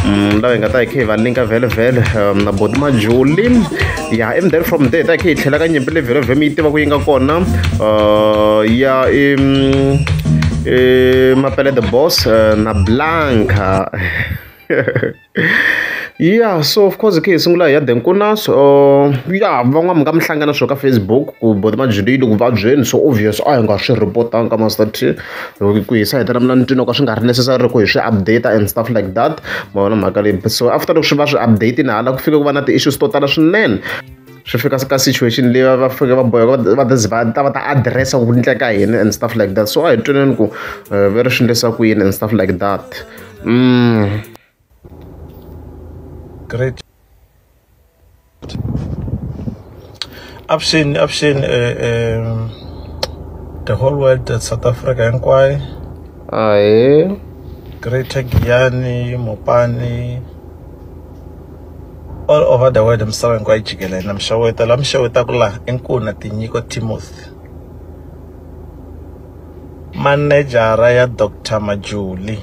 Mm, laha hi nga ta hi kha hi va linka vhelovhelo um, na boti majuli ya and then from there ta hi kha hi tlhela ka nyimpi leyi vhelovhe mi yi tiva ku yi nga kona uh, ya i mm, mapele the boss uh, na blanca ya so of course khe hi sungula hi ya denkunas uh, ya van'wana mi nga mi hlangana swo ka facebook ku boti majuli yi le ku vabyeni so obvious a hi nga swi report-anga ka master t hi ku ku hisa hi ta na ntwini ka swi nga ri necessary ku hi swi update and stuff like that ma vona mhaka leyi so after loko swi va swi update-ini hala ku fike ku va na ti-issues to tala swinene swi fika ka situation leyi va fike va boheka va va ta va ta address ku endleka yini and stuff like that so a hi twaneni ku eh, ve ri swi endlisa ku yini and stuff like that mm. great avuxeni avuxeni um the whole world at south africa hinkwayo ahe greater giyani mopani all over the world misava hinkwayo yi jikelele na mixaweta la mixawetaka laha i nkuna tinyiko timothy manejara ya doctor majuli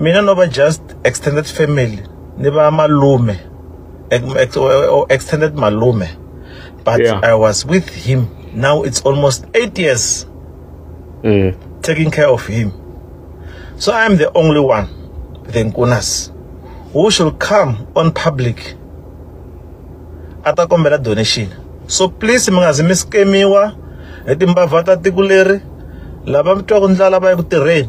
mina no va just extended family ni va malume extended malume but yeah. i was with him now it's almost eight years mm. taking care of him so i am the only one the nkunas who should come on public a ta kombela donation so please mi nga zi mi skemiwa hi timbavha ta tiko leri lava mi twaku ndlala va ya ku tirheni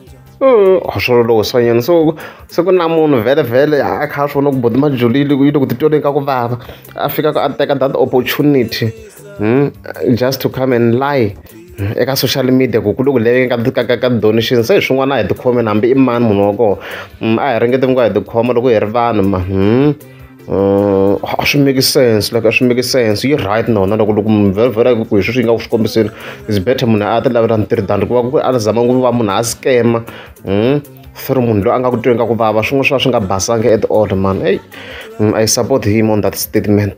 swilo loko swanyana so se ku na munhu vhele vhele a kha a swi vona ku bodi majulile yi le ku titweleni ka ku vava a fika a teka that opportunity hmm, just to come and lie eka social media ku ku le ku leveke ka ka ka ka donation se hi swin'wana a hi tikhome hambi i mani munhu wa kona mm, a hi ringeti ku nga hi tikhoma loko hi ri vanhu ma hmm. a swi make sense like a swi make sense yi right nona loko loko munhu vheravhera ku hi sweswi yi nga ku swi kombiseni is better munhu a ti lavela ntirho than ku va ku a zama ku va munhu a scammer for munhu loyi a nga ku tweni ka ku vava swin'wana swi va swi nga basanga at all man eyi i support him on that statement.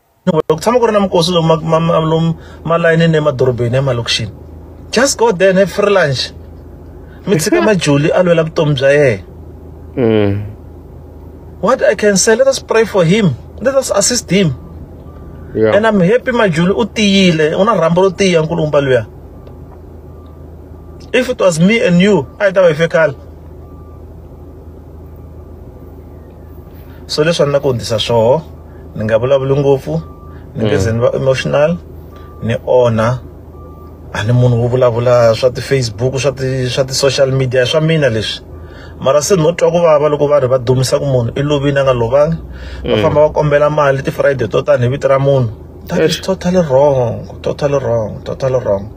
ku tshama ku ri na minkosi lomu lomu malayinini emadorobeni emalokixini just go there and have free lunch mi tshika majuli a lwela vutomi bya yena mm. what i can say let us pray for him let us assist him yeah. and i'm happy majuli u tiyile u na rhambo ro tiya nkulumba luya if it was me and you a yi ta va yi fekala so leswi a ni na ku hundzisa swoho ni nga vulavuli ngopfu ni nge ze ni va emotional ni onha a ni munhu wo vulavula swa ti-facebook swa ti swa ti-social media swa mina leswi mara se no twa ku vava loko va ri va dumisa ku munhu i lovini a nga lovangi va mm. famba va kombela mali ti-friday to tani hi vito ra munhu that is totally wrong totally wrong totally wrong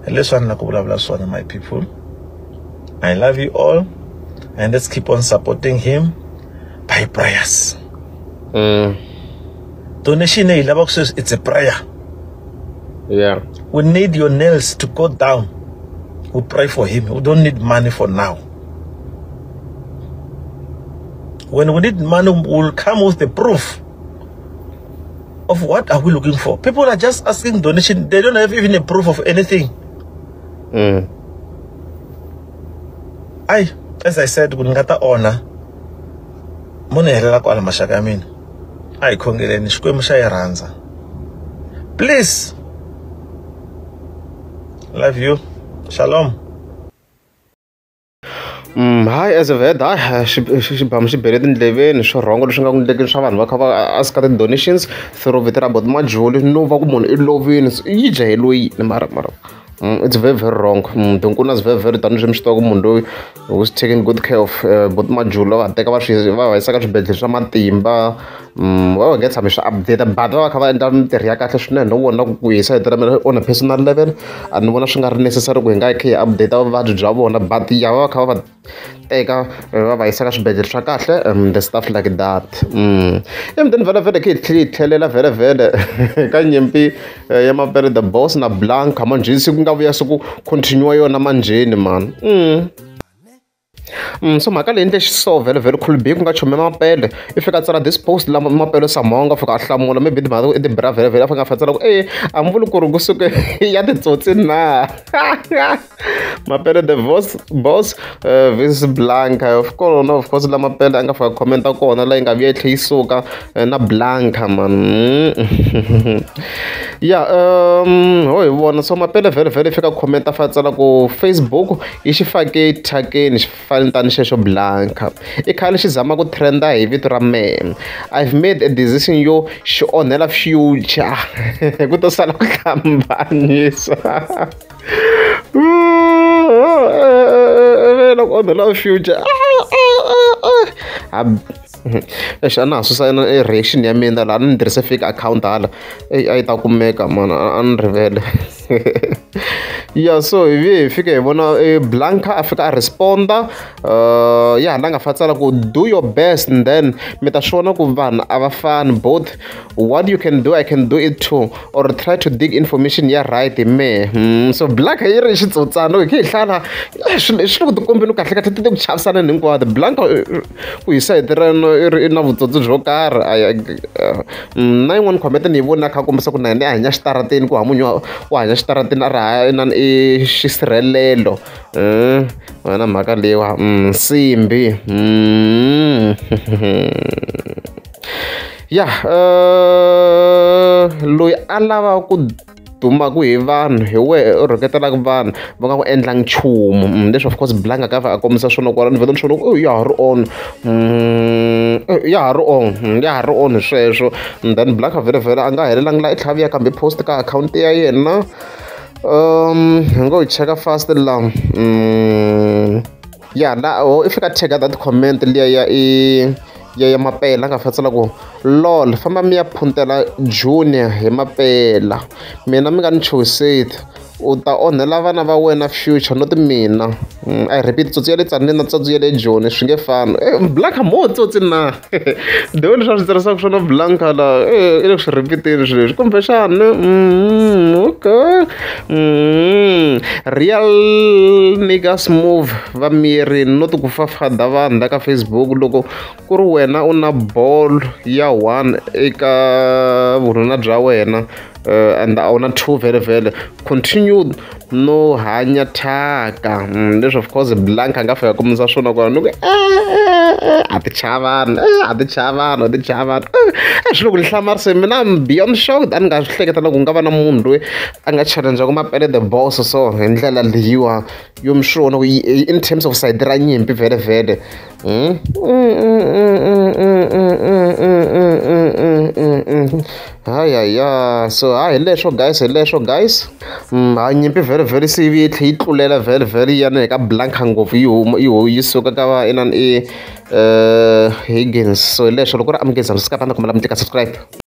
hi leswi a ni la ku vulavula swona my people i love you all and let's keep on supporting him by prayers mm. donation eyi lava ku sweswi it's a prayer yeah we need your nails to go down we pray for him we don't need money for now when we need money we'll come with the proof of what are we looking for people are just asking donation they don't have even a proof of anything mm. ai as i said ku ni nga ta onha mo ni helela kwala maxaka ya mina a hi khongeleni xikwembu xa yi rhandza please love you shalom Mm, hayi as a vet hayi xibamu xi bele tindleveni swi rhongo leswi nga ku ndlekeni swa vanhu va kha va aska ti-donations through vito ra bot majuli no va ku munhu i lovini yi dya hi loyi ni mara mara Mm, it's very very wrong mm, tinkulu na very very tani swi mi swi tiva ku munhu loyi was taking good care of uh, bot majula va teka va swi va va yisa ka swibedhlele swa matimba mm, va va nge tshami swi update but va va kha va endla mintirho ya kahle swinene no vona ku ku hisa hetela mina on a personal level a ni vona swi nga ri necessary ku hi nga yi kha hi update vuvabyi bya vona but ya va va kha va va eka va va yisa ka swibedhlele swa kahle the stuff like that emutini vhelavhele khe hi tlhela hi tlhelela vhelavhele ka nyimpi ya mapele the boss na blanca manjheni siku nga vuya siku continue yona manjheni mani Mm, so mhaka leyi ndle xiso vhele vhele khulbi ku nga chome mapele i fika tsala this post lama mapele samhonga fika a hlamula maybe timhaka i tibira vhele vhele a fika a fatsela ku e a mi vuli ku ri kusuke ya titsotsi na mapele the boss boss uh, vis blanca of course no of course la mapele a nga fika comment a kona la yi nga vuya yi tlhe yi suka eh, na blanca man ya um ho hi vona so mapele vhele vhele fika comment a fa tsala ku facebook yi xi fake thyakeni xi fani tani xexo blanca i khale xi zama ku trenda hi vito ra mem i've made a decision yo xi onhela future ku to sala ku hlambanyisa loko onho la future exi a na ha susa na e reaction ya mina laha ni ni tirhise fake account hala eyi a yi ta kumeka mani a ni rivele ya so hi vi hi fike hi vona e blanca a fika a responda uh, ya hala nga fa tsala ku do your best and then mi ta swi vona ku vanhu a va fani both what you can do i can do it too or try to dig information ya right hi mehe hmm, so blanka yi ri xitsotsana hi khe hi hlala eh, swilo swi le ku tikombeni kahle kahle ti te ku chavisana ni hinkwato blanka eh, ku hi sayiti reno i ri na vutsotsi byo karhi a eh, hmm, na yin'wana khomete ni yi vona kha kombisa ku na yena i hanya xitarateni ku hamunyu u hanya xitarateni a ri ha inani i xisirhelelo wena mhaka leyiwa hmm, nsimbi ya loyi a lava ku dumaka hi vanhu hi wehe u rhuketelaka vanhu va nga ku endla nchumu mm, leswi of course blanga ka a kombisa swona kwala ni vheta ni swona ya ha ri on mm, ya ha ri on mm, ya ha ri on sweswo then blanga vhele vhele a nga helelanga la i tlhaviya kambe post ka akhawunti ya yena um hi ngo yi cheka fast la Ya la ho i fika a cheka that comment liya ya i ya ya mapela a nga fanele a tsala ku lol famba mi ya phuntela junior hi mapela mina mi nga ni chuhiseti u ta onhela vana va wena future not mina mm, i repeat tsotsi ya le tsanile na tsotsi ya le joni swi nge fani e black mo tsotsi na the way leswi a swi tirhisaka swona blanka la i le ku swi rhipiteni swi leswi kumbexani okay real niggas move va miri no ti ku fafada vanhu la ka facebook loko ku ri wena u na ball ya one eka vununa bya wena uh, and a wu na two vele vele continue no hanya thyaka mm, leswi of course blank a nga fika kumisa swona kona ni ku eh, eh, eh, a ti chaya vanhu a ti chaya vanhu a ti chaya vanhu a swi loko ni hlamarise mina beyond shocked a ni nga swi hleketa loko nga va na munhu loyi a nga challengeku mapele the boss so hi ndlela leyiwa yo mi swi vona ku in terms of side ra nyimpi vhele vhele Mm? hayi hayi ya so hayi hi leswo guys hi leswo guys mm, hayi nyimpi very very se yi tlhe yi tlulela very very yana hi ka blanka ngopfu yi huma yi yi suka ka va inani i eh, higgins so hi leswo loko ri amukizana swi ka panda kumela mi teka subscribe